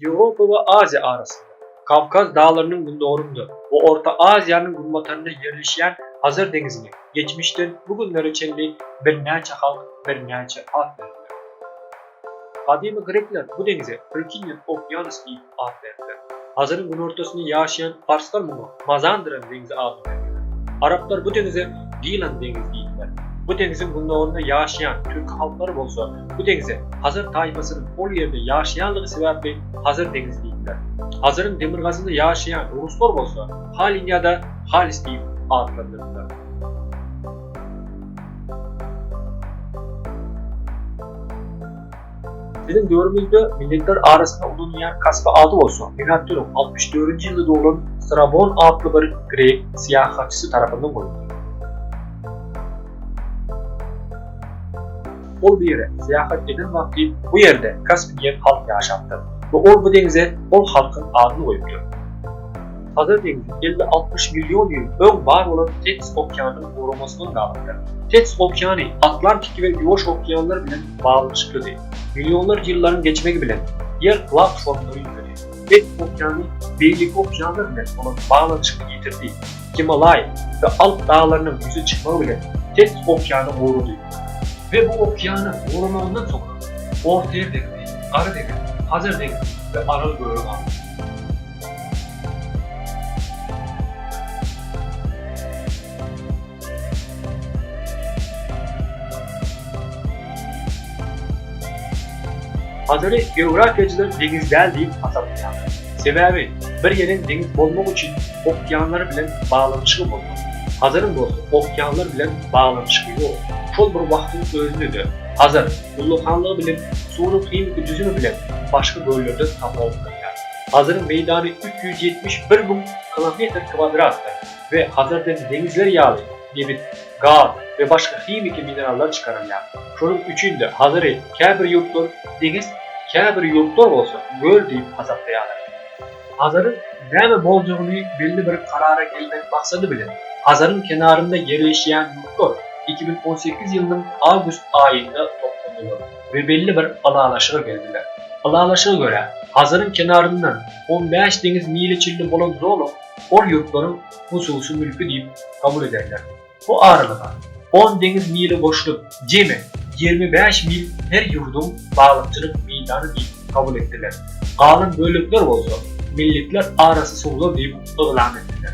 Ýewropa we Aziýa arasynda, Kawkaz daglarynyň gündogarynda we Orta Aziýanyň günbatarynda ýerleşýän Hazar deňizine geçmişden bu günlere çenli birnäçe halk birnäçe at beripdir. Gadymy grekler bu deňize Rykinian Okeanus diýip at beripdir. Hazaryň günortasynda ýaşaýan parslar muňa Mazandaran deňzi ady bilen biliner. Araplar bu deňize Gilan deňizi diýdiler. Bu deňziň gündogarynda ýaşaýan türki halklary bolsa bu deňze Hazar taýpasynyň ol ýerde ýaşaýanlygy sebäpli Hazar deňizi diýdiler. Hazaryň demirgazynda ýaşaýan ruslar bolsa Halin ýa-da Halis diýip atlandyrdylar. Biziň döwrümizde milletler arasynda ulanylýan kasba ady bolsa, milatdynuň altmyş dördünji ýylda doglan Strabon atly bir grek syýahatçysy tarapyndan goýuldy. Ol bu ýere syýahat eden wagty bu ýerde kasp diýen halk ýaşapdyr we ol bu deňze ol halkyň adyny goýupdyr. Hazar deňzi elli altmyş million ýyl öň bar bolan Tets okeanynyň guramasyndan galypdyr. Tets okeany Atlantiki we Ýuwaş okeanlar bilen baglyşyklydy. Millionlarça ýyllaryň geçmegi bilen, Ýer plak formada üýtgedi. Hind okeany beýleki okeanlar bilen bolan baglanyşygyny ýitirdi. Gimalaý we Alp daglarynyň ýüze çykmagy bilen, Tens okeany gurady. We bu okeanyň guramagyndan soňra, Ortaýer deňzi, Gara deňiz, Hazar deňzi we Aral gögi galdy. Hazaryň geografiýaçylar deňiz däl diýip hasaplaýarlar. Sebäbi bir ýeriň deňiz bolmagy üçin okeanlar bilen baglanyşygy bolmaly. Hazaryň bolsa okeanlar bilen baglanyşygy ýok. Şol bir wagtyň özünde-de Hazar ullakanlygy bilen suwunyň himiki düzümi bilen başga göllerden tapawutlanyar. Hazaryň meýdany üç ýüz ýetmiş bir müň kilometr kwadratdyr. we Hazarden deňizler ýaly nebit, gaz we başga himiki minerallar çykarylýar. Şonuň üçin-de Hazary käbir ýurtlar deňiz, käbir ýurtlar bolsa göl diýip hasaplaýarlar. Hazaryň näme boljagyny belli bir karara gelmek maksady bilen, Hazaryň kenarynda ýerleşýän ýurtlar iki müň on sekiz ýylynyň awgust aýynda toplandylar we belli bir ylalaşyga geldiler. Ylalaşyga görä, Hazaryň kenaryndan on bäş deňiz mili çenli bolan zolak, ol ýurtlaryň hususy mülki diýip kabul ederler. Bu aralyga on deňiz mili goşulyp, jemi ýigrimi bäş mil her ýurduň balykçylyk meýdany diýip kabul etdiler, galan bölekler bolsa milletler arasy suwlar diýip yglan etdiler.